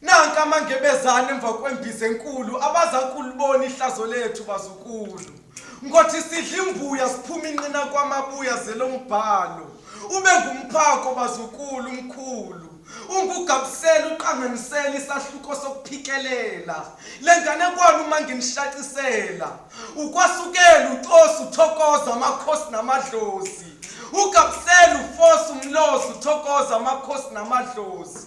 Nanka amangebezane emva kwembiza enkulu abazakulibona ihlazo lethu bazukulu. Ngothi sidla imbuya siphuma inqina kwamabuya zelombhalo. Ube ngumphako bazukulu umkhulu. Ungugabusela uqanganisela isahluko sokuphikelela. Lengane kwalo uma nginishacisela. Ukwasukela ucosi uthokoza amakhosi namadlozi. Ugabusela ufosa umlozi uthokoza amakhosi namadlozi.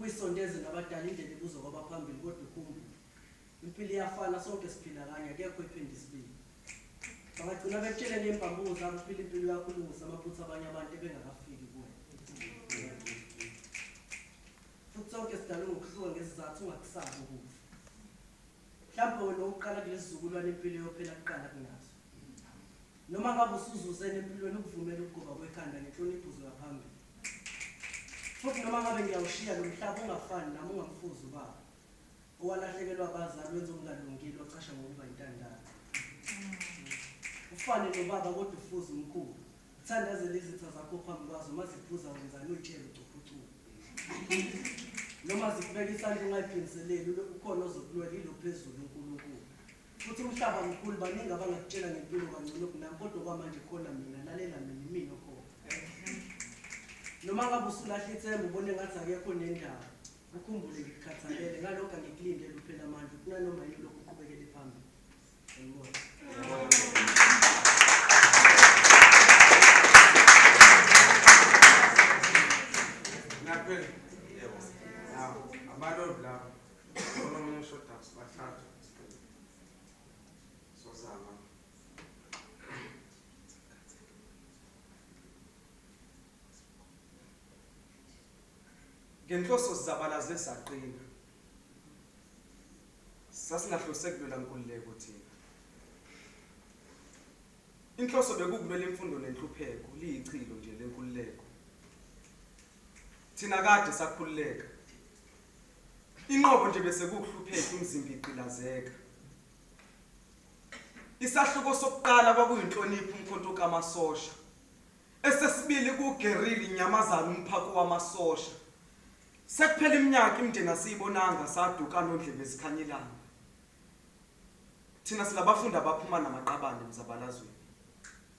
Uyisondeze nabadala indlela ibuzwa kwabaphambili kodwa ukhumbule impilo iyafana sonke siphila kanye akekho oyiphinde isibili. Bangagcina bekutshele ngey'mbambuko zabo uphila impilo yakho ulungise amaphutha abanye abantu ebengakafiki kuwena. Futhi sonke sidalwe ngokuhluka ngesizathu ungakusabi ukufa. Mhlawumbe wena owokuqala kulesi sizukulwane impilo eyophela kuqala kunazo. Noma ngabe usuzuzeni empilweni ukuvumela ukugoba kwekhanda ngenhlonipho uzoya phambili. Futhi noma ngabe ngiyawushiya lo mhlaba ungafani nami ungamfuzi ubaba. Owalahlekelwa abazali wenza okungalungile ocasha ngokuba intandane. Ufane nobaba kodwa ufuza umkhulu. Thandazela izitha zakho phambi kwazo uma ziphuza wenzani uyitshele ucuphucuku. Noma zikubeka isandla ungayiphindiseleli ukhona ozokulwela ilo phezulu uNkulunkulu. Futhi umhlaba mkhulu baningi abangakutshela ngempilo kangcono kunami kodwa okwamanje khona mina lalela mina imina okhona. Noma ngabe usulahla ithemba ubone ngathi akekho nendawo. Ukhumbule ngikukhathalele ngalokho angikulindele uphela amandla kunanoma yini lokhu uqhubekele phambili. Ngibona. Naphela. Yebo. Nawo. Abalodi labo. Onomunye uShodax bathathu. ngenhloso zizabalaze saqina sasingahlose kulwela nkululeko thina inhloso bekukulwela imfundo nenhlupheko liyichilo nje lenkululeko Thina kade sakhululeka. Inqobo nje bese kuhlupheka umzimba igqilazeka. Isahluko sokuqala kwakuyinhlonipho umkhonto kamasosha. Esesibili kugerili inyamazana umphako wamasosha. Sekuphela iminyaka imndeni asiyibonanga saduka nondlebe ezikhanyelana. Thina silabafundi abaphuma namaqabane emzabalazweni.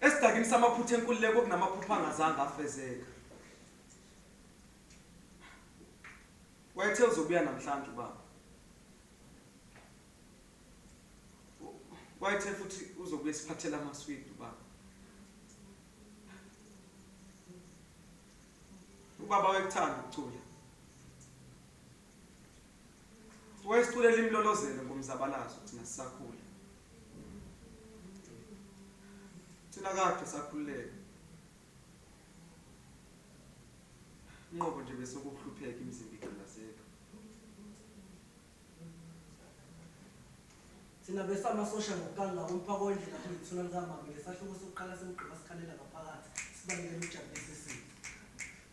Esidakini samaphutha enkululeko kunamaphupha angazange afezeka. Wayethe uzobuya namhlanje ubaba. Wayethe futhi uzobuya siphathela amaswidi ubaba. Ubaba wayekuthanda ukucula. wayesiculela imlolozelo ngomzabalazo thina sisakhula thina kade sakhululeka inqobo nje bese ukuhlupheka imizimba igqilazeka thina besamasosha ngokukanga umphako wendlela kuyithula likamama ngesahluko sokuqala semgqiba sikhalela ngaphakathi sibalekela ukujabulisa isimo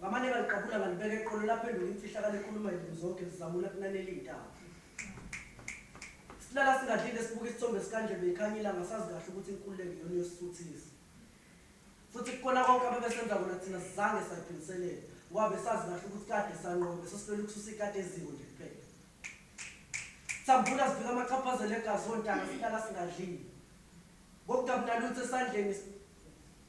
Ngamane ngaliqabula ngalibeka eqolo laphenduka imfihlakalo ekhuluma izinto zonke zizamula kunanela iy'ntaba. Silala singadlile sibuka isithombe sikaNdlebe ikhanya ilanga sazi kahle ukuthi inkululeko iyona iyosisuthisa. Futhi kukona konke abebesenza kona thina sizange sayiphiliselela ngoba besazi kahle ukuthi kade sanqoba besesilwela ukususa ikati eziko nje kuphela. Samvula sivika amachaphazela egazi ontanga silala singadlile. Bokudabu nalutho esandleni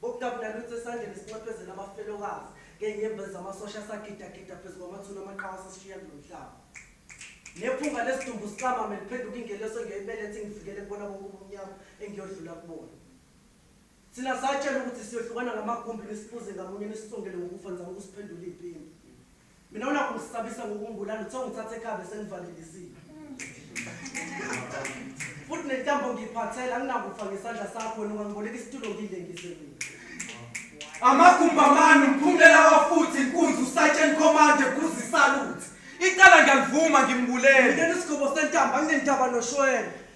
Bokudabu nalutho esandleni esinxephezela abafelokazi ngenyembezi zamasosha asagidagida phezu kwamathuna amaqhawe asesishiya kulo mhlaba. Nephunga lesidumbu siqamame liphenduka ingelosi engiyoyibeletha ingivikele kubona bonke ubumnyama engiyodlula kubona. Thina satshelwa ukuthi siyohlukana ngamagumbi nisiphuze ngamunye nisisongele ngokufa nizama ukusiphendula izimpimpi. Mina unakho ngisabisa ngokungibulala uthe ngithathe ekhabe senivalelisile. Futhi nentambo ngiyiphathela anginakufa ngesandla sakho wena ungangiboleka isitulo ngilengise mina. Amagumbamani umphumela wafuthi inkunzi uSergeant Command Guzi Salute. Icala ngiyalivuma ngimbulele. Mina nesigobo sentambo anginendaba noshwele.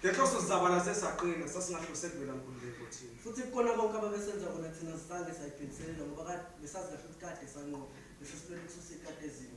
Ngenhloso sizabalaze saqina, sasingahlose kuvela nkululeko thina. Futhi kukona konke ababesenza kona thina sisange sayibhekiselela ngoba kade besazi kahle ukuthi kade sanqoba bese siphela ukususa ikati eziko.